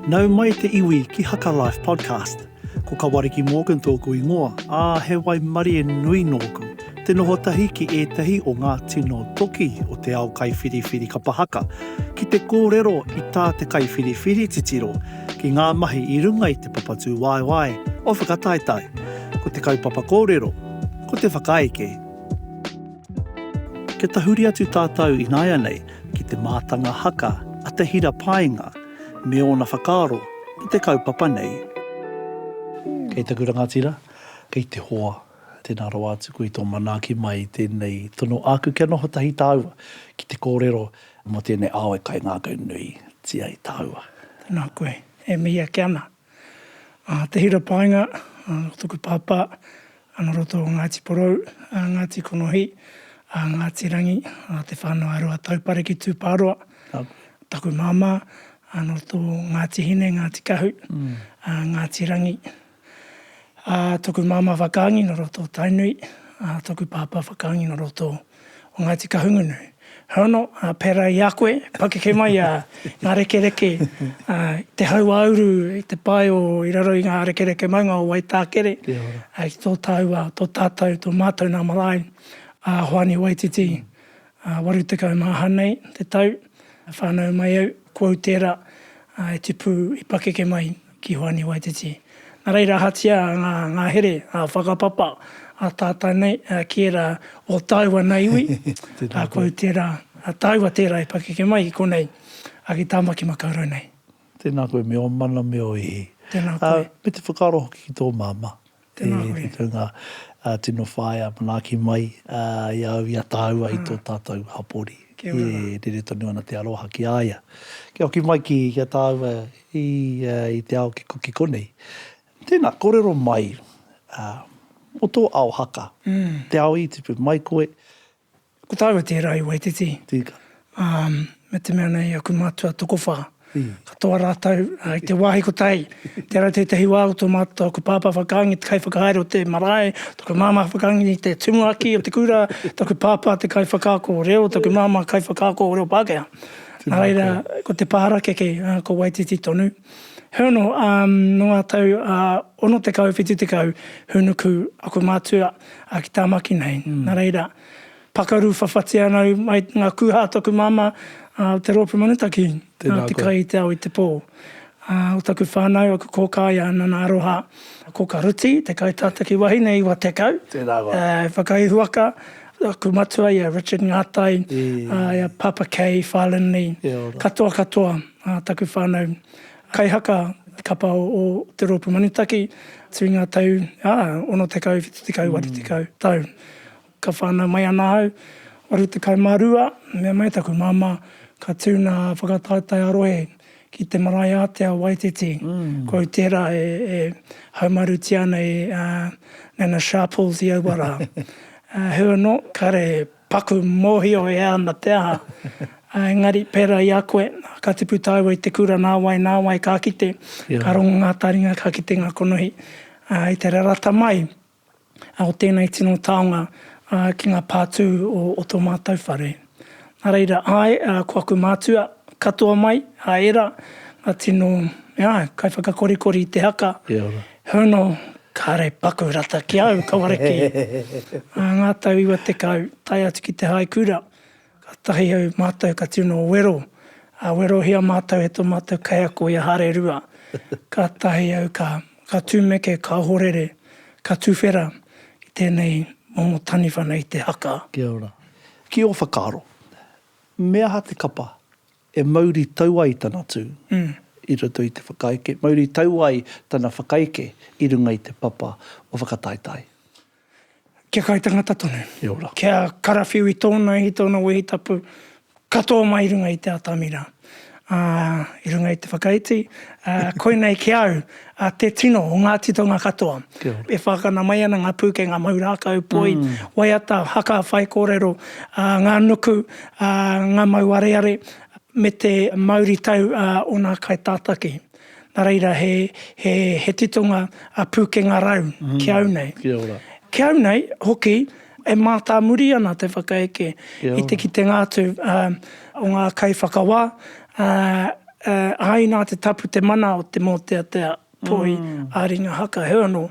Nau mai te iwi ki Haka Life Podcast. Ko Kawariki Morgan tōku ingoa, ā, he waimarie nui nōku. Te noho tahi ki ētahi o ngā tino toki o te ao kaiwhiriwhiri kapa haka, ki te kōrero i tā te kaiwhiriwhiri titiro, ki ngā mahi i runga i te papatūwaewae o Whakataetae. Ko te kaupapa kōrero, ko te whakaeke. Kia tahuri atu tātou ināianei ki te mātanga haka a Te Hira Paenga me ōna whakaaro ki te kaupapa nei. Kei taku rangatira, kei te hoa, tēnā rawa atu koe i tō manaaki mai i tēnei tono āku kia noho tahi tāua ki te kōrero mō tēnei ao e kaingākaunui tia ai tāua. Tēnā koe, e mihi ake ana. Te hira painga, ko toku pāpā, nō roto o Ngāti Porou, Ngāti Konohi, Ngāti Rangi, te whānau a Ruataupare ki Tūpāroa. Taku māmā, nō roto o Ngāti Hine, Ngāti Kahu, Ngāti Rangi. Toku māmā whakaangi nō roto o Tainui, toku pāpā whakaangi nō roto o o Ngāti Kahungunu. Hono, pērā i a koe, pakeke mai ngā rekereke i te hauāuru, i te pae o i raro i ngā rekereke maunga o Waitākere, ki tō tāua, tō tātou, tō mātou nā marae, a Hoani Waititi, 80 mā hanei te tau, whānau mai au, ko au tērā e tipu i pakeke mai. ki Hoani Waititi. Nā reira ahatia ngā ngahere whakapapa a tātou nei ki ērā o tāua nei iwi, ko tērā, tāua tērā e pakeke mai i konei, ki Tāmaki Makaurau nei. Tēnā koe me ō mana me ō ihi. Tēnā koe. Me te whakaaro hoki ki tō māmā. Tēnā koe. Te tūnga tino whaea manaaki mai i a au i a tāua i tō tātou hapori. Kia ora rā. E rere tonu ana te aroha ki a ia. Kia hoki mai ki a tāua i te ao kikokiko konei. Tēnā, kōrero mai mō tō ao haka. Te ao i tipu mai koe, Ko tāu e tērā i Waititi. Tika. Ā, me te mea nei aku mātua tokowhā, katoa rātou i te wāhi ko Tai. Tērā tētahi wā ko tō mātou, tōku pāpā whakaangi te kaiwhakahaere o te marae, tōku māmā whakaangi te tumuaki o te kura, tōku pāpā te kaiwhakaako o reo, tōku māmā kaiwhakaako o reo Pākehā. Nā reira, ko te pā harakeke, ko Waititi tonu. Heoi anō, nō ngā tau 60, 70, hūnuku aku mātua a ki Tamaki nei. Na reira, pakaru whawhati ana au mai nga kuha a taku mama, a te Roopu Manutaki, a te kai i te ao i te po. A o taku whanau, aku koka ia Nana Aroha Koka Ruti, te kai tata ki wahine iwa tekau, e whakaihuaka, aku matua ia Richard Ngatai, ia Papa Kay, Fai Linley, katoa katoa taku whanau. Kaihaka kapa o Te Roopu Manutaki tui ngā tau ā, 60, 70, 80 tau. Ka whānau mai ana ahau, 82, mea mai taku māmā ka tū nā whakataetae ā-rohe ki te marae ātea o Waititi. Koi tērā e haumarutia ana e Nana Sharples i aua rā. Her not, kare Paku mōhio e ana te aha. Engari, pērā i a koe, ka tipu tāua i te kura nāwai nāwai ka kite, ka rongo ngā taringa ka kite ngā konohi. I te rarata mai o tēnei tino taonga ki ngā pātū o tō mātou whare. Nā reira, āe, ko aku mātua katoa mai, a Era, ngā tino, āe, kaiwhakakorikori i te haka, Hono, Kare paku rata ki au, ka ware kē. Ā ngā tau iwa tekau, tae atu ki te hae kura, ka tahi au mātou ka tino wero, ā, werohia mātou e tō mātou kaiako i a Hare Rua. Ka tahi au ka, ka tūmeke, ka ohorere, ka tuwhera ki tēnei momo taniwha nei, te haka. Kia ora. Ki ō whakaaro, me aha te kapa E mauri tau ai tana tū i roto i te whakaeke, mauri tau ai tana whakaeke i runga i te papa o whakataetae. Kia kaitangata tonu, kia karawhiu i tōna ihi, tōna wehi tapu, katoa mai i runga i te atamira, ā, i runga i te whakaiti, ā, koinei ki au, A te tino o ngā titonga katoa. Kia ora. E whākana mai ana ngā pūkenga mau rākau, poi, waiata, haka, whaikōrero, ngā nuku, ngā mau areare, me te mauritau a ōna kaitātaki. Nā reira, he titonga pūkenga rau ki au nei. Kia ora. Ki au nei hoki. E mātāmuri ana te whakaeke i te kitenga atu o ngā kaiwhakawā, āe nā te tapu te mana o te mōteatea toi ā-ringa haka, heoi anō,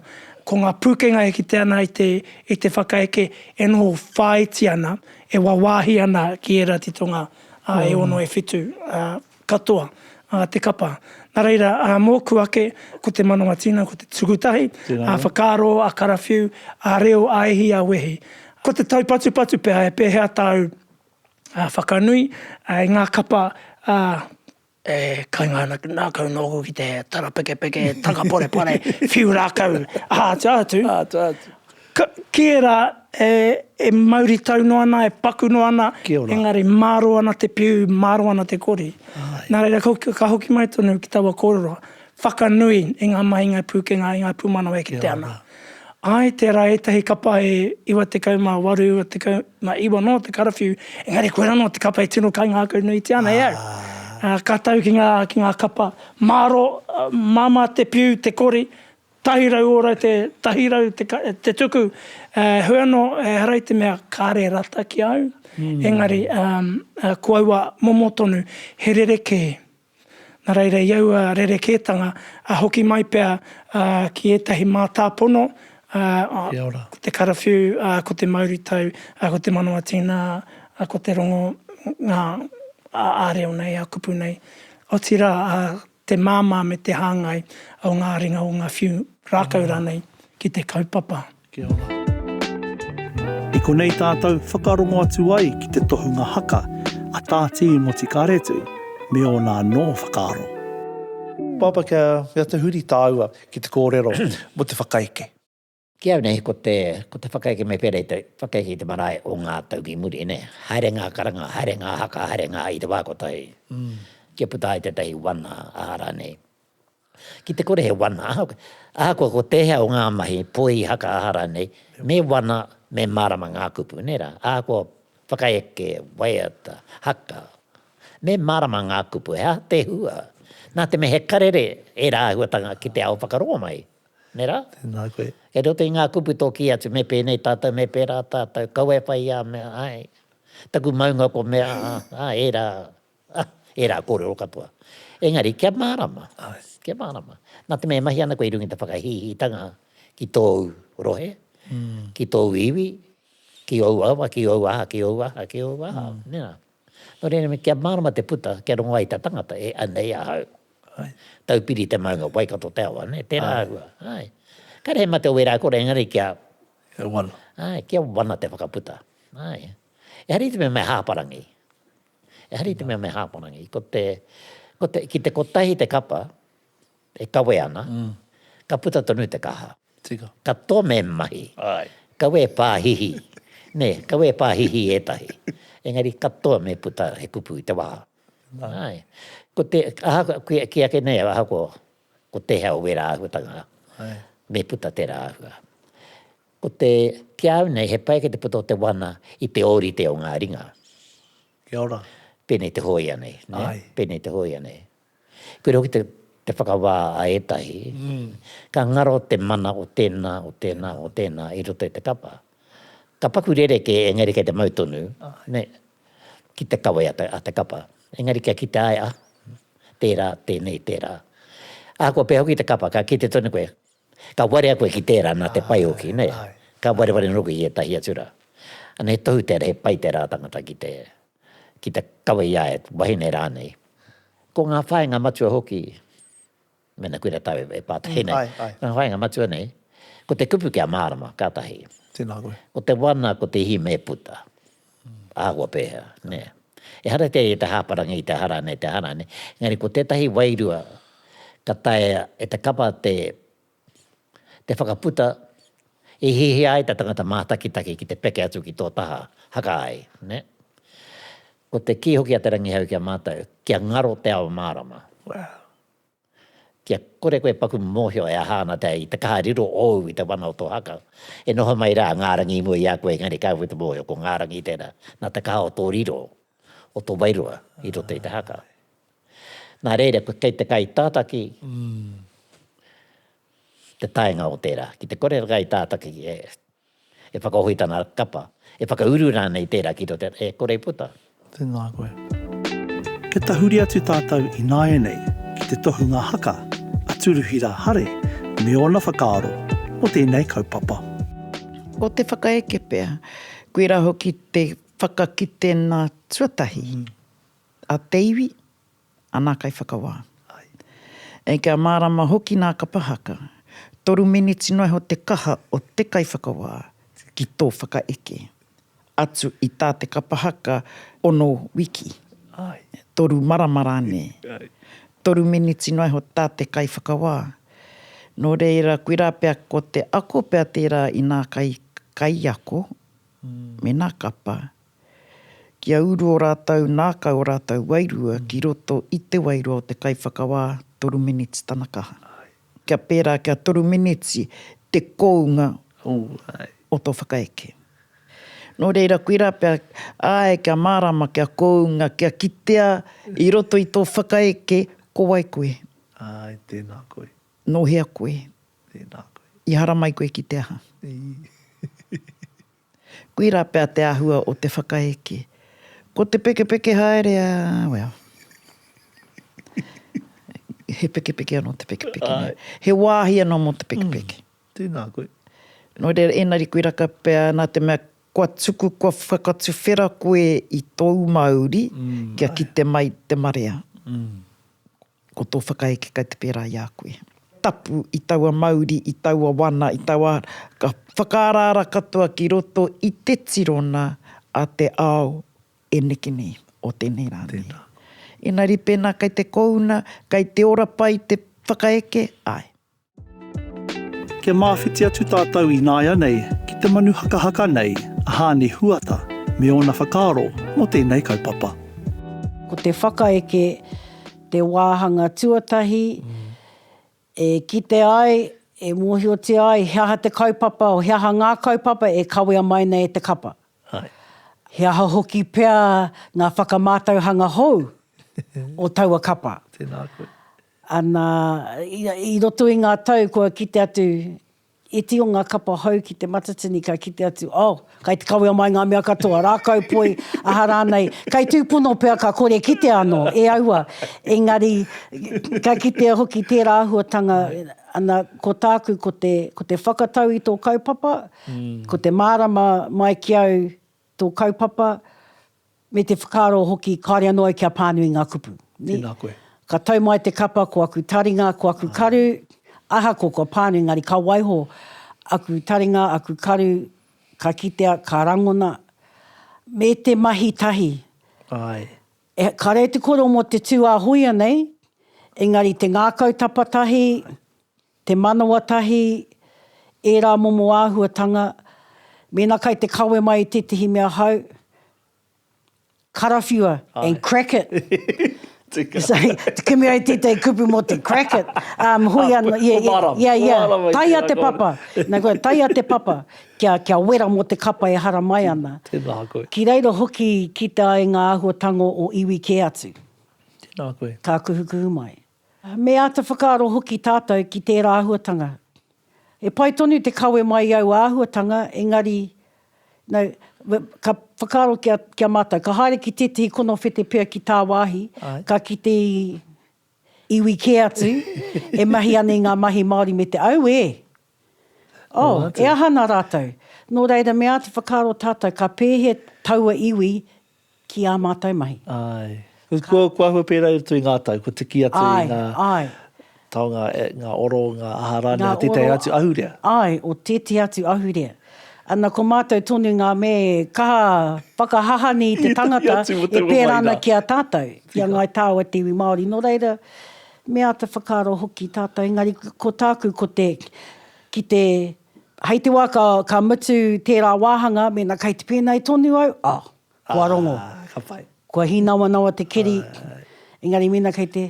ko ngā pūkenga e kite ana i te whakaeke e noho whāiti ana, e wāwāhi ana ki ērā titonga e ono, e whitu. Katoa, ā, te kapa. Nā reira, ā, mōku ake, ko te mano a Tina, ko te tuku tahi, ā, whakaaro, ā, karawhiu, ā, reo, ā, ihi, ā, wehi. Ko te taupatupatu pea he pēhea tāu, ā, whakanui, ā, i ngā kapa, ā. E kainga ana ki ngākau nōku ki te tarapekepeke, takaporepare, whiu rākau, ā, tua atu. Ka, kē rā, e, e mauritau noa ana, e paku noa ana, Kia ora. engari mārō ana te piu, mārō ana te kori. Āe. Nā reira, ka, ka hoki mai tonu ki taua kōrero, whakanui i ngā mahi, i ngā pūkenga, i ngā pūmanawa e Kia kitea ana. ora. Āe, tērā ētahi kapa e 98, 99 anō te karawhiu, engari koirā anō te kapa e tino kaingākau nuitia ana e au. Ā. Ā, ka tau ki ngā, ki ngā kapa mārō, ā, māmā te piu, te kori, Tahi rau ora te, tahi rau te, te tuku, eh, heoi anō, ehara i te mea kāre rata ki a au, engari, eh, ko aua momo tonu, he rerekē. Nā reira, i aua rerekētanga, ah, hoki mai pea, ah, ki ētahi mātāpono, ah, Kia ora. ko te karawhiu, ah, ko te mauritau, ah, ko te manawa tīna, ah, ko te rongo, ngā, ah, ā-reo nei, ā-kupu nei. Otirā, ah, te māmā me te hāngai o ngā ringa o ngā whiu rākau rānei ki te kaupapa. Kia ora. I konei tātou whakarongo atu ai ki te tohunga haka a Tā Tīi Motikāretu me ōna anō whakaaro. Papa, kia mea te huri tāua ki te kōrero mō te whakaeke. Ki au nei, ko te, ko te whakaeke me pērā i te whakaeke i te marae o ngā tau ki muri, nē. Haere ngā karanga, haere ngā haka, haere ngā i te wā kotahi, kia puta ai tētahi wana, aha rānei. Ki te kore he wana, ahakoa, ahakoa ko tēhea o ngā mahi, poi, haka, aha rānei, me wana, me mārama ngā kupu, nē rā. Ahakoa whakaeke, waiata, haka, me mārama ngā kupu, he aha te hua? Nā te mea he karere ērā āhuatanga ki te ao whakarongo mai. Me rā? Tēnā koe. Kei roto i ngā kupu tō kī atu, me pēnei tātou, me pērā tātou, kaua e whai i a mea, āe, taku maunga ko mea, ā, ērā, ā, ērā kōrero katoa. Engari, kia mārama, kia mārama. Nā te mea e mahi ana koe i runga i te whakahīhītanga ki tōu rohe, ki tōu iwi, ki ōu awa, ki ōu aha, ki ōu aha, ki ōu aha, nē rā. Nō reira, me kia mārama te puta, kia rongo ai ta tangata, e, anei ahau. Ai. Taupiri te maunga, Waikato te awa, nē, tērā ahua. Ai. Ka rehe mate o wērā kore, engari kia. Kia wana. Ai, kia wana te whakaputa. Ai. Ehara i te mea me hāparangi. Ehara i te mea me hāparangi. Ko te, ko te, ki te kotahi te kapa, E kawe ana, ka puta tonu te kaha. Tika. Ka tome mahi. Ae. Kawe pa hihi. Ne, kawe pa hihi etahi. Engari ka tome puta he kupu i te waha. Ae. Ko te, ahakoa, ki ake nei, ahakoa, ko te hea o wera ahuatanga, me puta tera ahua. Ko te, ki a au nei, he pai ake te puta o te wana i te orite o nga ringa. Kia ora. Penei te hoia nei, ne? Ae. Penei te hoia nei. Koira hoki te, te whakawā a ētahi, ka ngaro te mana o tēnā, o tēnā, o tēnā i roto i te kapa. Ka paku rerekē engari kei te mau tonu, nē, ki te kawe a te, a te kapa. Engari kia kite ai, ah, tērā, tēnei, tērā. Ahakoa pea hoki te kapa, ka kite tonu koe, ka warea koe ki tērā nā te pai hoki, nē. Ka wareware noa koe ki ētahi atu rā. Ana he tohu tērā, he pai tērā tangata ki te, ki te kawe i a ia te wahine rānei. Ko ngā whāinga matua hoki, mēnā koe rā tāu e pātai nei, ngā whāinga matua nei, ko te kupu kia mārama, ka tahi. Tēnā koe. Ko te wana, ko te hime e puta. Āhua pēhea, nē. Ehara te i te hāparangi, i te hara nei, te hara nei. Engari ko tētahi wairua ka taea e te kapa te te whakaputa i hiahia ai te tangata mātakitaki ki te peke atu ki tō taha, haka ai, nē? Ko te kī hoki a Te Rangihau ki a mātou, kia ngaro te ao mārama. Wow. Kia kore koe paku mōhio e aha ana i te kaha riro ōu i te wana o tō haka. E noho mai rā ngā rangi i mua i a koe engari kāore te mōhio ko ngā rangi tērā, nā te kaha o tō riro, o tō wairua i roto i te haka. Nā reira, ko kei te kaitātaki te taenga o tērā. Ki te kore te kaitātaki e whakahohi tana kapa, e whakauru rānei tērā ki roto, e kore i puta. Tēnā koe. Kia tahuri atu tātou ināianei ki te tohunga haka a Turuhira Hare me ōna whakaaro mō tēnei kaupapa. Ko te whakaeke pea, koirā hoki te whakakite nā tuatahi. A te iwi, a nā kaiwhakawā. Āe, kia mārama hoki nā Kapa Haka, toru miniti noa iho te kaha o te kaiwhakawā ki tō whakaeke, atu i tā te Kapa Haka ono wiki, toru marama rānei, toru miniti noa iho tā te kaiwhakawā. Nō reira, koirā pea ko te ako pea tērā i nā kai, kaiako, me nā kapa, Kia uru o rātou nākau o rātou wairua ki roto i te wairua o te kaiwhakawā, toru miniti tana kaha. Kia pērā kia toru miniti te kounga o tō whakaeke. Nō reira, koirā pea, āe, kia mārāma, kia kounga, kia kitea i roto i tō whakaeke, ko wai koe? Āe, tēnā koe. Nō hea koe? Tēnā koe. I haramai koe ki te aha? Koirā pea te āhua o te whakaeke. Ko te pekepeke haere a, well. He pekepeke anō te pekepeke. Āe. He wāhi anō mō te pekepeke. Mm. Tēnā koe. Nō reira, ēnari koirā ka pea, nā te mea kua tuku, kua whakatuwhera koe i tōu mauri, mm. kia kite mai te marea. Mm. Ko tō whakaeke kei te pērā i a koe. Tapu i taua mauri, i taua wana, i taua ara, ka whakaaraara katoa ki roto i te tirona a te ao e neke nei, o tēnei rā nei. Tēnā. Engari pēnā kei te kouna, kei te ora pai te whakaeke, āe. Kia māwhiti atu tātou ināianei ki te manu hakahaka nei a Hāni Huata me ōna whakaaro mō tēnei kaupapa. Ko te whakaeke te wāhanga tuatahi e kite ai, e mōhiotia ai he aha te kaupapa, he aha ngā kaupapa e kawea mai nei e te kapa. He aha hoki pea ngā whakamātauhanga hou o taua kapa. Ana, i roto i ngā tau kua kite atu iti o ngā kapa hou ki te matatini ka kite atu, oh, kai te kawea mai ngā mea katoa, rākau poi, aha rānei, kai tūpono pea ka kore kitea anō, e aua, engari, ka kitea hoki tērā āhuatanga, ana, ko tāku ko te, ko te whakatau i tō kaupapa, ko te mārama mai ki au, Tō kaupapa, me te whakaaro hoki kāore anō au kia pānui ngā kupu. Tēnā koe. Ka tau mai te kapa ko aku taringa, ko aku karu, ahakoa kua pānui engari ka waiho aku taringa, aku karu, ka kitea, ka rangona, me te mahi tahi. Āe. Ka rere te kōrero mō te tū ā-hōia nei, engari te ngākau tapatahi, Te manawa tahi, ērā momo āhuatanga, mēnā kai te kawe mai i tētehi mea hau, karawhiua and crack it. So, te kimi ai tētehi kupu mō te crack it, um, hoi anō, yeah, yeah, Whomara, yeah, yeah, whomara mai taia tērā te koa. papa, nā koa, taia te papa, kia, kia wera mō te kapa e haramai ana. Tēnā koe. Ki reira hoki i kite ai ngā āhuatanga o iwi kē atu. Tēnā koe. Ka kuhukuhu mai. Me āta whakaaro hoki tātou ki tērā āhuatanga. He pai tonu te kawe mai i aua āhuatanga, engari, no, ka whakaaro ki a, ki a mātou, ka haere ki tētahi konowhete pea ki tāwāhi, ka kite i iwi kē atu, e mahi ana i ngā mahi Māori me te au, e! Oh, e aha ana rātou? Nō reira, me āta whakaaro tātou, ka pēhea taua iwi Ki ā mātou mahi. Āe. Ka. Kua āhua pērā atu i ngā tau, kua tuki atu i ngā. Āe, āe. Taonga, ngā oro, ngā aha rānei o tētahi atu ahurea. Āe, o tētahi atu ahurea. Ana, ko mātou tonu ngā mea e kaha whakahaha nei i te tangata e pērā ana ki a tātou, ki a Ngāi Tāua te iwi Māori. Nō reira, me āta whakaaro hoki tātou, engari ko tāku ko te, ki te Hei te wā ka, ka mutu tērā wāhanga, mēnā kei te pēnei tonu au, oh, kua rongo. Ah, ka pai. Kua hīnawanawa te keri, engari mēnā kei te...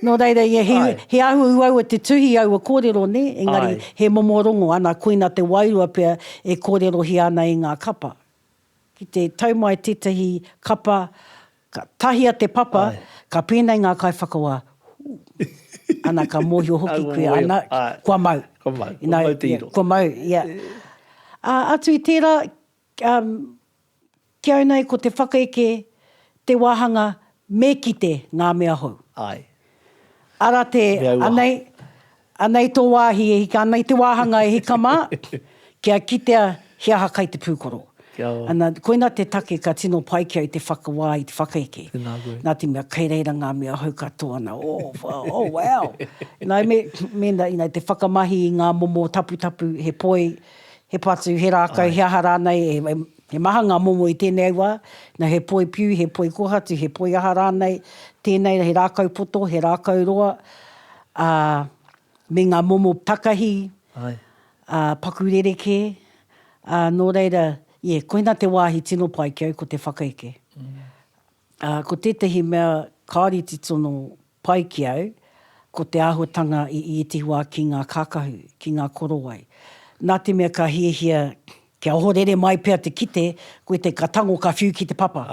Nō reira, ia, he, he āhua uaua te tuhi aua kōrero, nē, engari he momo rongo, ana, koina te wairua pea e kōrerohia ana e ngā kapa. Ki te tau mai tētahi kapa, ka tahia te papa, ka pēnei ngā kaiwhakawā, Hū! Ana ka mōhio hoki koe, ana, kua mau. Kua mau, kua mau te iro. Kua mau, ia. Ā, atu i tērā, ki au nei ko te whakaeke, te wāhanga, me kite ngā mea hou. Āe. Ara te, anei, Anei tō wāhi e hika, anei te wāhanga e hika mā, kia kitea he aha kai te pūkoro. Kia ora. Ana, koina te take ka tino pai kia i te whakawā, i te whakaeke. Tēnā koe. Nā te mea, kei reira ngā mea hou katoa nā, oh, whao, oh, wow! Nā, me, mēnā, ina, te whakamahi i ngā momo taputapu, he poi, he patu, he rākau, he aha rānei, e, he maha ngā momo i tēnei wā, nā, he poi piu, he poi kōhatu, he poi aha rānei, tēnei he rākau poto, he rākau roa, Ā, me ngā momo takahi, ā, paku rerekē, ā, nō reira, ie, koina te wāhi tino pai ki au ko te whakaeke. Ā, ko tētehi mea kāore i titono pai ki au, ko te āhuatanga i ētehi wā ki ngā kākahu, ki ngā korowai. Nā te mea ka hiahia kia ohorere mai pea te kite, koe te ka tango ka whiu ki te papa.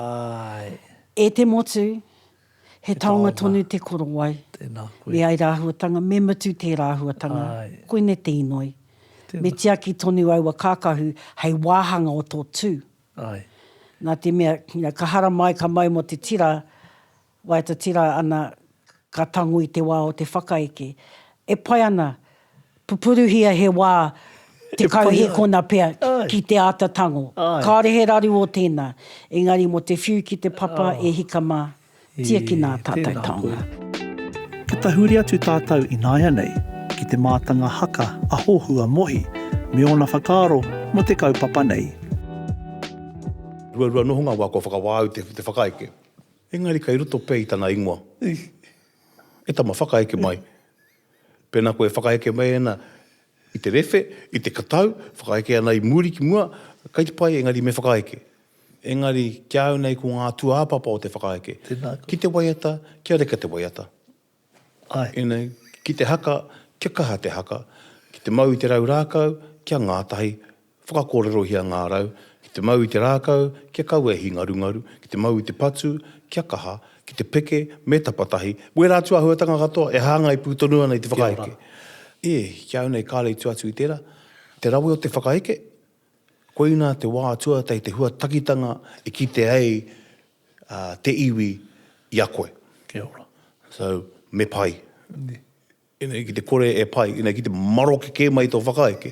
E te motu, He taonga tonu te korowai. Tēnā koe. Me ai rāhuatanga, me mutu tē rāhuatanga. Āe. Koinei te inoi. Tēnā. Me tiaki tonu aua kākahu hei wāhanga o tō tū. Āe. Nā te mea, you know, ka haramai, ka mau mō te tira, waiata tira ana, ka tango i te wā o te whakaeke. E pai ana, Pupuruhia he wā te kauhekona pea ki te āta tango. Kāore he raru o tēnā, engari mō te whiu ki te papa e hika mā, tiakina ā tātou taonga. Kia tahuri atu tātou ināianei ki te mātanga haka a Hohua Mohi me ōna whakaaro mō te kaupapa nei. Ruarua noho ngā wā kua whakawā au te whakaeke. Engari kei roto pea i tana ingoa. E tama, whakaeke mai. Pēnā koe e whakaeke mai ana i te rewhe, i te katau, whakaeke ana i muri ki mua, kei te pai, engari me whakaeke. Engari, ki a au nei ko ngā tūāpapa o te whakaeke. Tēnā koe. Ki te waiata, kia reka te waiata. Āe. Ina, ki te haka, kia kaha te haka. Ki te mau i te rau rākau, kia ngātahi, Whakakōrerohia ngā rau, ki te mau i te rākau, kia kaua e hingarungaru, ki te mau i te patu, kia kaha, ki te peke, me tapatahi, me ērā atu āhuatanga katoa e hāngai pū tonu ana i te whakaheke. E, ki au nei kāre i tua atu i tērā, te rawe o te whakaheke, koinā te wā tuatahi, te huatakitanga e kite ai te iwi i a koe. Kia ora. So, me pai. Inei ki te kore e pai, inei ki te maroke kē mai tō whakaeke,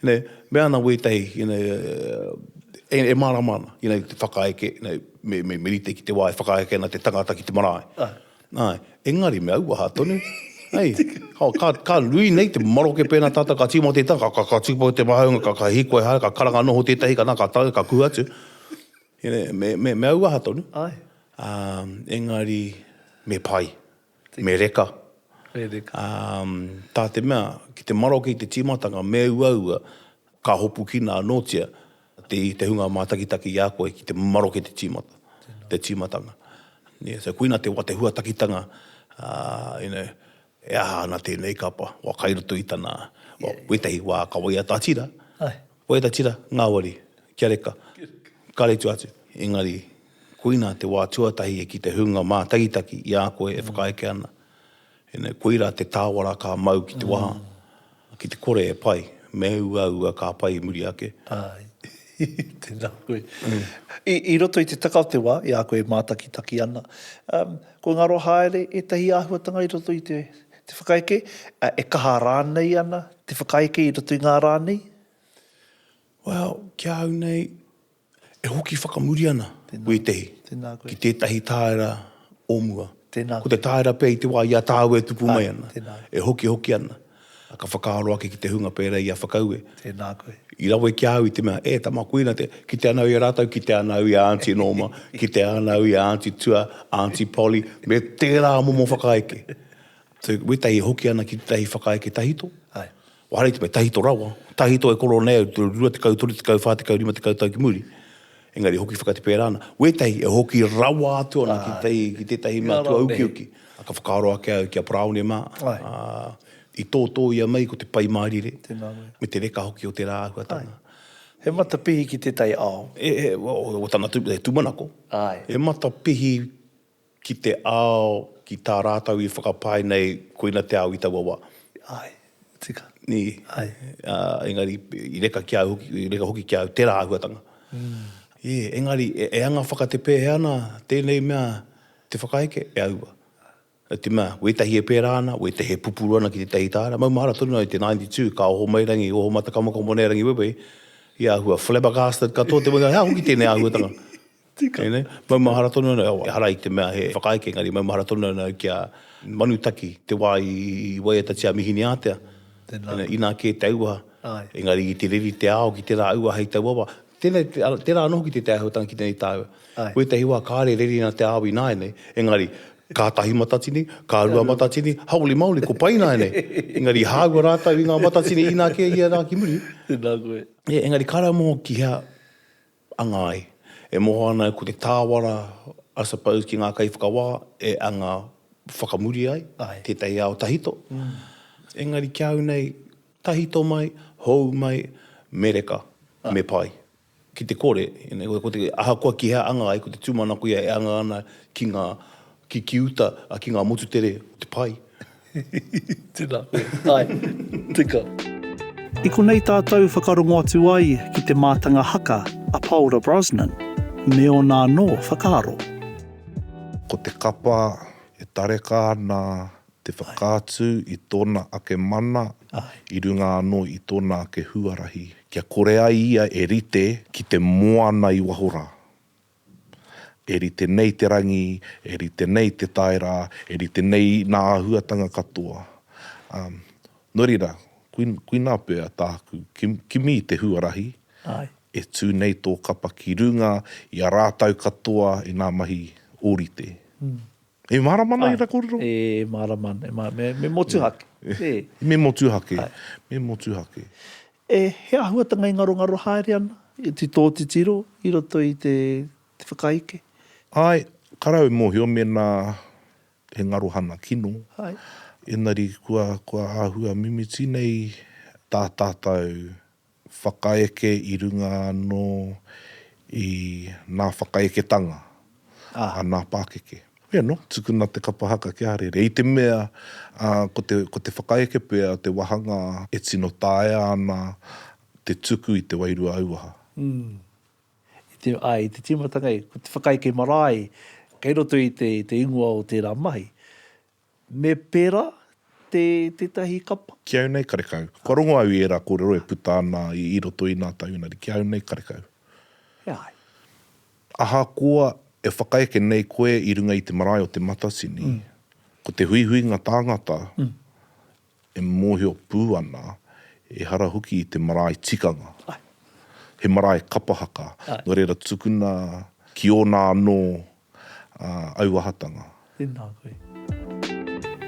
inei me ana wētahi, inei e mārama ana, inei te whakaeke, inei me rite ki te wā e whakaeke ana te tangata ki te marae. Āe. Engari me auaha tonu, hei, ka nui nei te maroke pēnā tātou ka tīmata i te tangata, ka tūpato te mahaunga, ka hīkoi haere, ka karanga noho tētahi, ka nā, ka tae, ka kū atu. Inei me auaha tonu. Āe. Engari me pai. me reka, tā te mea, ki te maroke i te tīmatanga, me uaua, ka hopukina anōtia i te hunga mātakitaki i a koe ki te maroke te tīmata, te tīmatanga. So, koina te huatakitanga, you know, e aha ana tēnei kapa, wā kai roto i tana, wētahi wā ka waiata tira, waiata tira, ngāwari, kia reka, karetu atu, engari, Koina te wā tuatahi e ki te hunga mātakitaki i a koe e whakaeke ana. Ina, koira te tāwara ka mau ki te waha, ki te kore e pai, me uaua ka pai i muri ake. Āe. Tēnā koe. I, i roto i te taka o te wā, i a koe e mātakitaki ana, um, kua ngaro haere ētahi āhuatanga i roto i te, te whakaeke, ā, e kaha rānei ana te whakaeke i roto i ngā rā nei? Well, ki a au nei, E hoki whakamuri ana wētehi ki tētahi tāera o mua. Ko te tāera pea i te wā i a tāua e tupu mai ana, e hokihoki ana, ka whakaaro ake ki te hunga pērā i a Whakaue, i rawe ki a au i te mea, e tama, koina te, kite ana au i a rātou, kite ana au i a Aunty Norma, kite ana au i a Aunty Tua, Aunty Polly, me tērā momo whakaeke. So, wētehi e hoki ana ki tētahi whakaeke tahito, Kua haere te mea, tahito rawa, tahito e koro nei au, rua tekau, toru tekau, wha tekau, rima tekau tau ki muri, engari e hoki whakate pērā ana. Wētahi e hoki rawa atu ana ki tētahi, ki tētahi matua ukiuki. Ā, ka whakaaro ake au ki a Paraone mā, ā, i tōtōia mai ko te Pai Mārire, me te reka hoki o tērā āhuatanga. He matapihi ki tētahi ao. He, he, he, o tana tūmanako. He matapihi Ki te ao, ki tā rātou i whakapae nei, koina te ao i taua wā. Ae, tika. Nē? Ae. Ā, engari, i reka ki a au hoki, i reka hoki ki a au tērā āhuatanga. Ē, engari, e anga whakatepēhea ana tēnei mea te whakaeke? E aua. Nō te mea, wētahi e pērā ana, wētahi e pupuru ana ki tētahi tāra. Maumahara tonu ai te 92, ka oho mai rangi, oho matakamokomo nei rangi wewehi, i āhua flabbergasted katoa te mea, he aha hoki tēnei āhuatanga? Tika. Hei nei, maumahara tonu ana, ehara i te mea he whakaeke, engari maumahara tonu ana au ki a Manutaki, te wā i waiatatia a Mihiniātea. Tēnā koe. Inā kē te auaha. Āe. Engari i te reri te ao ki tērā auaha hei tauawa. Tēnei, tērā anō hoki te Te Āhuatanga ki tēnei tāua. Āe. Wētahi wā kāre reri ana te ao ināianei, engari kātahi matatini, kārua matatini, haole maoli, ko pai ināianei. Engari i hāua rātou i ngā matatini inā kē ia rā ki muri. Tēnā koe. Engari kāre anō ki hea. anga ai. E moho ana au ko te tāwara, I suppose, ki ngā kaiwhakawā e anga whakamuri ai tētahi ao tahito. Engari ki a au nei, tahito mai, hou mai, me reka, me pai. Ki te kore, ahakoa ki hea anga ai, ko te tūmanako ia e anga ana ki ngā Ki, ki uta, a, ki ngā motu tere o te pai. Tēnā koe. Āe. Tika. I konei tātou whakarongo atu ai ki te mātanga haka a Paora Brosnan me ōna anō whakaaro. Ko te kapa e tareka ana te whakaatu i tōna ake mana i runga anō i tōna ake huarahi kia kore ai ia e rite ki te moana i waho rā. E rite nei te rangi, e rite nei te taera, e rite nei nā āhuatanga katoa. Um, nō reira, kui, kui nā pea tāku, ki, kimi te huarahi, Aye. e tū nei tō kapa ki runga i a rātau katoa i nā mahi ōrite. Mm. E mārama ana Aye. ērā kōrero? E mārama ana, e mārama, me, me motuhake. Yeah. E. Me motuhake, Aye. me motuhake. E, he āhuatanga i ngarongaro haere ana. Te tō titiro i roto i te whakaeke. Āe, kara au mōhio mēnā he ngaro hana kino. Āe. Engari kua, kua āhua mimiti nei tā tātou whakaeke i runga anō i nā whakaeketanga a nā pākeke. Hoi anō, tukuna te kapa haka ki a Harere. I te mea, ko te whakaeke pea o te wāhanga e tino taea ana te tuku i te wairua auaha. Āe, i te tīmatanga, ko te whakaeke marae kei roto i te ingoa o tērā mahi. Me pērā, te, tētahi kapa. Ki au nei karekau. Kua rongo au i ērā kōrero e puta ana i roto i nā taunari, ki au nei karekau. E ai. Ahakoa e whakaeke nei koe i runga i te marae o Te Matatini, ko te huihuinga tāngata E mōhio pū ana, ehara hoki i te marae tikanga. He marae kapa haka. Nō reira, tukuna ki ōna anō auahatanga. Tēnā koe.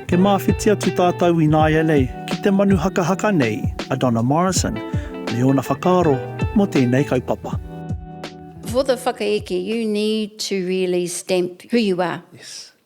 E māwhiti atu tātou ināianei ki te manu hakahaka nei a Donna Morrison me ōna whakaaro mō tēnei kaupapa. For the whakaeke, you need to really stamp who you are. Yes.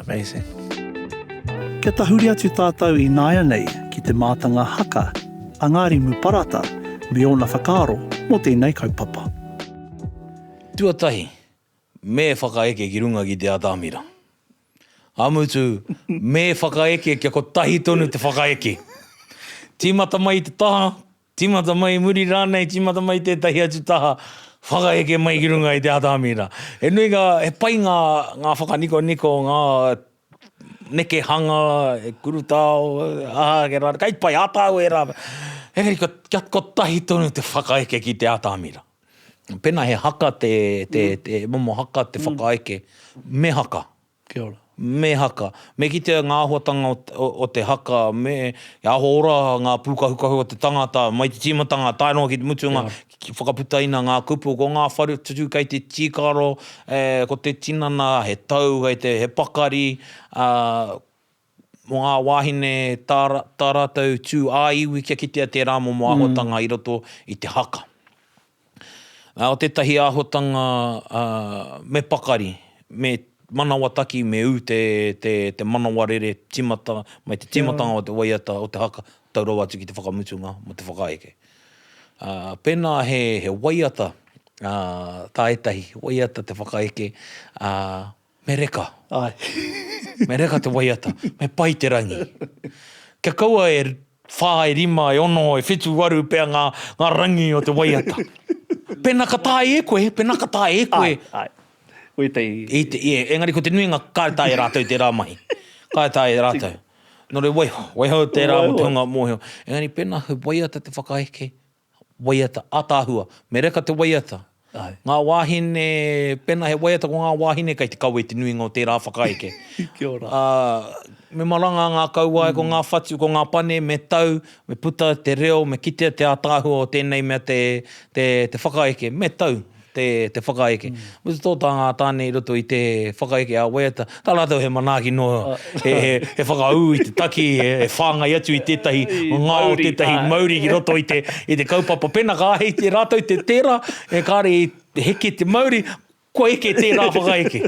Amazing. Kia tahuri atu tātou ināianei ki te mātanga haka a Ngārimu Parata me ōna whakaaro mō tēnei kaupapa. Tuatahi, me whakaeke ki runga ki te atamira. Ka mutu, me whakaeke kia kotahi tonu te whakaeke. Tīmata mai i te taha, Tīmata mai i muri rānei, tīmata mai i tētahi atu taha, whakaheke mai ki runga i te ata amira. He nui ngā, he pai ngā, ngā whakanikoniko, ngā nekehanga, he kurutao, aha ake rā, kai pai, āta au e rā. Engari ko, kia, kotahi tonu te whakaheke ki te ata amira. Pēnā he haka te, te, te momo haka te whakaheke, me haka. Kia ora. Me haka. Me kitea ngā āhuatanga o te haka, me aho ora ngā pūkahukahu o te tangata, mai te tīmatanga tae noa ki te mutunga, whakaputaina ngā kupu. Ko ngā whare tutu kei te tīkaro, ko te tinana he tau, he pakari, mō ngā wāhine tā, tā rātou tū ā-iwi kia kitea tērā momo āhuatanga i roto i te haka. Ā, o tētahi āhuatanga, ā, me pakari, me manawataki, me ū te, te, te manawa rere tīmata mai te tīmatanga o te waiata o te haka tau rawa atu ki te whakamutunga mō te whakaeke. Ā, pēnā he, he waiata, ā, tā ētahi, waiata te whakaeke, ā, Me reka. Ae. Me reka te waiata. Me pai te rangi. Kia kaua e wha, e rima, e ono, e whitu, waru pea nga, nga rangi o te waiata. Pena ka tae e koe, pena ka tae e koe. Ae, ae. Ko etahi. I te, ie, engari ko te nuinga kare tae e ratou tera mahi. Kare tae e ratou. Nore waiho, waiho tera mo te hunga mohio. Engari pena he waiata te whakaeke, Waiata ataahua, me reka te waiata. Ngā wāhine, pēnā he waiata ko ngā wāhine kei te kawe te nuinga o tērā whakaeke. Ā, me maranga ngā kauae, ko ngā whatu, ko ngā pane, me tau, me puta te reo, me kitea te ataahua o tēnei mea te whakaeke, me tau. te whakaeke. Me te tōtā ngā tāne i roto i te whakaeke a waiata, tā rātou he manaaki noa, he whakaū i te taki, he whāngai atu i tētahi ngao, tētahi mauri ki roto i te kaupapa. Pēnā ka āhei e rātou te tērā, kāre i heke te mauri, kua eke tērā whakaeke.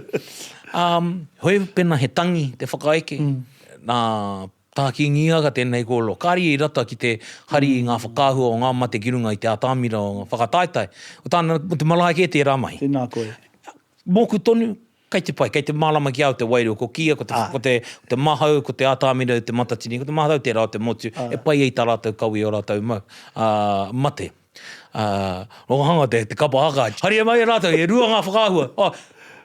Hoi pēnā he tangi te whakaeke, nā, Ka kīngihiaka tēnei kōrero, kāre ia i rata ki te hari i ngā whakaahua o ngā mate ki runga i te atamira o ngā whakataetae, o tāna, mō te marae kē tērā mahi. Tēnā koe. Mōku tonu, kei te pai, kei te mārama ki a au te wairua, ko kīia, ko te, ko te, ko te mahau, ko te atamira i te matatini, ko te maharau tērā o te motu, e pai ai tā rātou kawē, ō rātou mau, ā, mate. Ā, rongohanga te, te kapa haka, haria mai e rātou, e rua ngā whakaahua. Ā,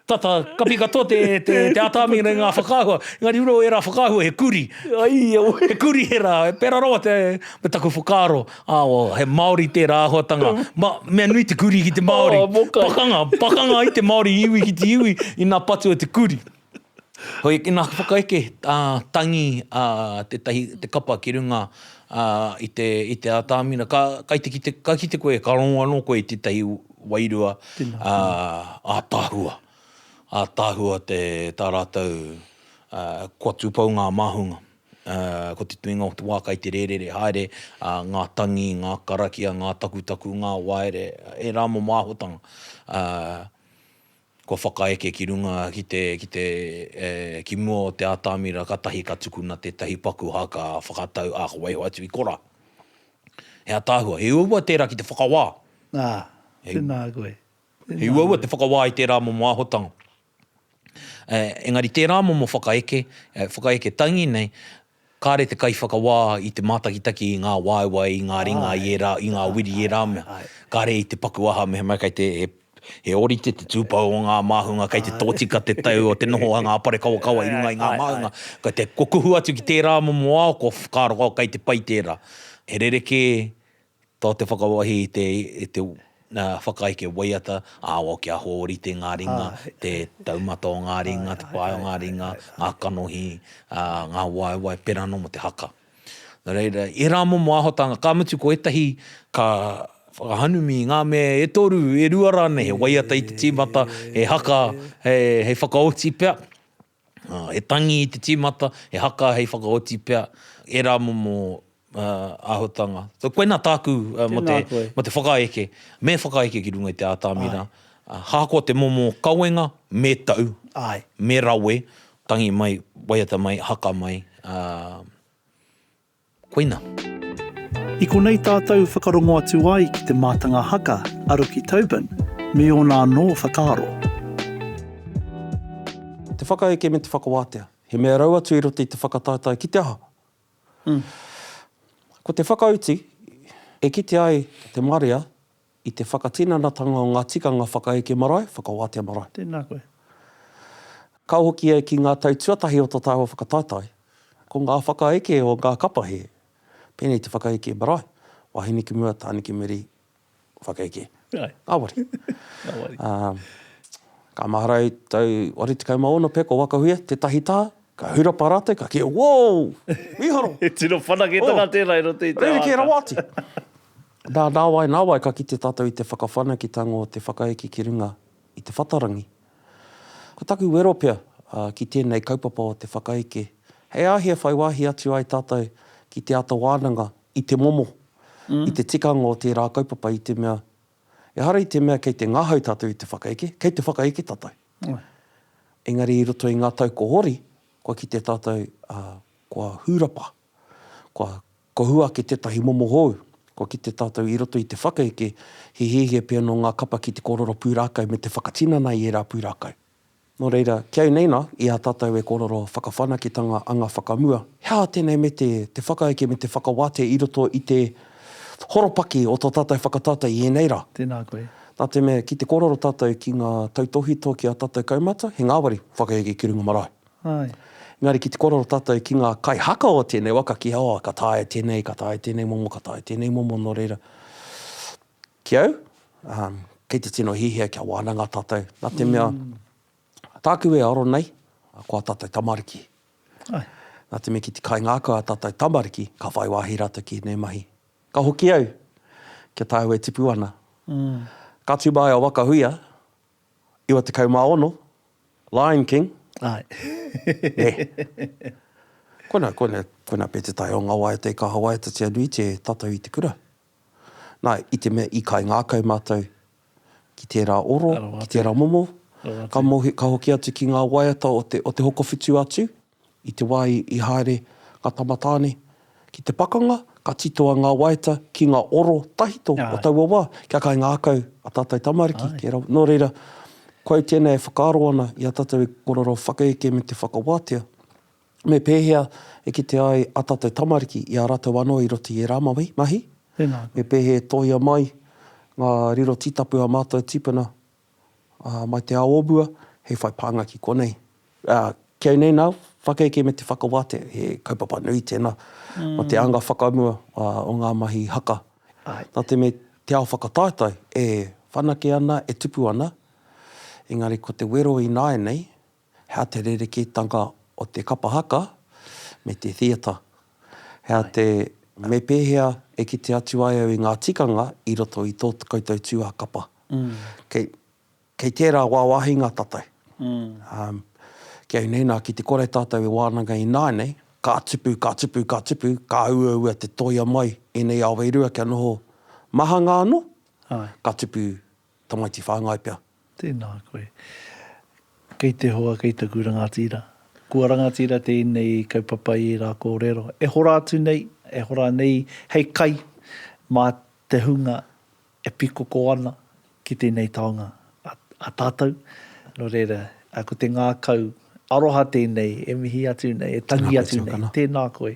tata, kapi katoa te, te, te atāmi nei ngā whakaahua, engari ro ērā whakaahua he kuri. Aia we! He kuri ērā, e pērā rawa te, me taku whakaaro, ā, o, he Māori tērā āhuatanga. Ma, mea nui te kuri ki te Māori. Oh, mokai. Pakanga, pakanga i te Māori iwi ki te iwi, ina patu e te kuri. Hoi, ina whakaeke, ā, tangi, ā, tētahi, te kapa ki runga, ā, i te, i te ātamina. Ka, kai te kite, ka kite koe, ka rongo anō koe i tētahi wairua, ā, ātaahua. Ātaahua te, tā rātou, ā, kua tūpou ngā māhunga. Ā, ko te tuinga o te wā kai te rērere haere, ā, ngā tangi, ngā karakia, ngā takutaku, ngā waere, ērā momo āhuatanga. Ā. Kua whakaeke ki runga, ki mua o te atamira katahi ka tukuna tetahi paku haka whakatau a ka waiho atu i kora. He ataahua, he uaua tera ki te whakawā. A, tena koe. He uaua te whakawā i tera momo ahotanga. Engari tera momo whakaeke, whakaeke tangi nei, Kāre te kaiwhakawā i te mātakitaki i ngā waewae, i ngā ringa, i ērā, i ngā wiri, i ērā mea. Kāre i te paku aha, mehemea kei te, he, he ōrite te tūpou o ngā māhunga, kei te tōtika te tau o te noho a ngā parekawakawa i runga i ngā māhunga. Kei te, kua kuhu atu ki tērā momo ao, kua whakaaro au kei te pai tērā. He rerekē Ko te whakawāhi i te whakaeke waiata, āwao kia hōrite ngā ringa, te taumata o ngā ringa, te pae o ngā ringa, ngā kanohi, ngā waewae, pērā anō mō te haka. Nō reira, ērā momo āhotanga, ka mutu ko ētahi ka whakahanumi i ngā mea e toru, e rua rānei, he waiata i te tīmata, he haka hei whakaoti pea. He tangi i te tīmata, he haka hei whakaoti pea ērā momo āhuatanga. Koinā tāku mō te whakaeke, me whakaeke ki runga i te ātamina, ahakoa te momo kawenga, me tau, me rawe, tangi mai, waiata mai, haka mai. Koina. I konei tātou whakarongo atu ai ki te mātanga haka a Ruki Tobin me ōna anō whakaaro. Te whakaeke me te whakawātea. He mea rau atu i roto i te whakataetae ki te aha? Ko te whakautu e kite ai te marea I te whakatinanatanga o ngā tikanga whakaeke marae, whakawātea marae. Tēnā koe. Ka hokia ki ngā tau tuatahi o tō tāua whakataetae, ko ngā whakaeke o ngā kapa he, pēnei te whakaeke marae, wāhine ki mua, tāne ki muri, whakaeke. Āe. Ngāwari. Ngāwari. Ā, ka mahara au i tau 86 pea ko Wakahuia, tētahi taha, Ka hurapa rātou, ka kī, Woo! Mīharo! He tino whanaketanga tērā i roto i te ao aka. Rerekē rawa atu! Nā, nāwai, nāwai ka kite tātou i te whakawhanaketanga o te whakaeke ki runga i te whatarangi. Ko taku wero pea ki tēnei kaupapa o te whakaeke, he āhei e whai wāhi atu ai tātou ki te āta wānanga i te momo, i te tikanga o tērā kaupapa i te mea Ehara i te mea kei te ngahau tātou i te whakaeke, kei te whakaeke tātou. Engari i roto i ngā tau ko Hori, kua kite tātou kua hūrapa, kua kohua ake tētahi momo hou, kua kite tātou i roto i te whakaeke, he hiahia pea nō ngā kapa ki te kōrero pūrākau me te whakatinana i ērā pūrākau. Nō reira, kei neina, i a tātou e kōrero whakawhanaketanga anga whakamua, he aha tēnei me te, te whakaeke me te whakawātea i roto i te horopaki o tō tātou whakatata i ēnei rā? Tēnā koe. Nā te mea, ki te kōrero tātou ki ngā tautōhito ki ā tātou kaumātua, he ngāwari, whakaeke ki runga marae. Āe. Engari ki te kōrero tātou ki ngā kaihaka o tēnei waka, ki, oh, ka taea tēnei, ka taea tēnei momo, ka taea tēnei momo, nō reira, Ki au, kei te tino hiahia kia wānanga tātou, nā te mea, tāku e aro nei, ko ā tātou tamariki. Nā te mea ki te kaingākau ā tātou tamariki, ka whai wāhi rātou ki ēnei mahi. Ka hoki au, kia tāu e tipu ana. Ka tū māu a Wakahuia, 96, Lion King. Nē. Koina, koina, koina pea te tae o ngā waiata i kaha waiatatia nui te tatau i te kura. Nā, i te mea i kaingākau mātou ki tērā oro, ki tērā momo, ka mohi, ka hoki atu ki ngā waiata o te, o te hokowhitu atu, i te wā i haere ngā tama tāne ki te pakanga, ka titoa ngā waiata ki ngā oro tahito o taua wā, kia kaingākau a tātou tamariki ki ērā. Nō reira, koau tēnei e whakaaro ana i a tātou e korero whakaeke me te whakawātea. Me pēhea e kite ai a tatou tamariki i a ratou anō i roto i ērā mahi? Me pēhea e tohia mai ngā riro tītapu a mātou tīpuna mai te ao o mua hei whai pānga ki konei? Kei nei nā, whakaeke me te whakawātea, he kaupapa nui tēnā mō te anga whakamua o ngā mahi haka. Nā te mea te ao whakataetae e whanake ana, e tupu ana, engari ko te wero ināianei, Hea te rerekētanga o te kapa haka me te theatre? Hea te, me pēhea e kite atu ai au i ngā tikanga i roto i tō koutou tūā kapa? Kei, kei tērā wāwāhinga tātou. Ki au nei, nā, ki te kore tātou e wānanga ināianei, ka tupu, ka tupu, ka tupu, ka uaua te tōia mai ēnei awa e rua kia noho mahanga anō, ka tupu, Tamaiti whāngai pea. Tēnā koe. Kei te hoa, kei taku rangatira. Kua rangatira tēnei kaupapa i ērā kōrero. E hora atu nei, e hora nei hei kai mā te hunga e pikoko ana ki tēnei taonga a tātou. Nō reira, ko te ngākau aroha tēnei e mihi atu nei, e tangi atu nei. Tēnā koe.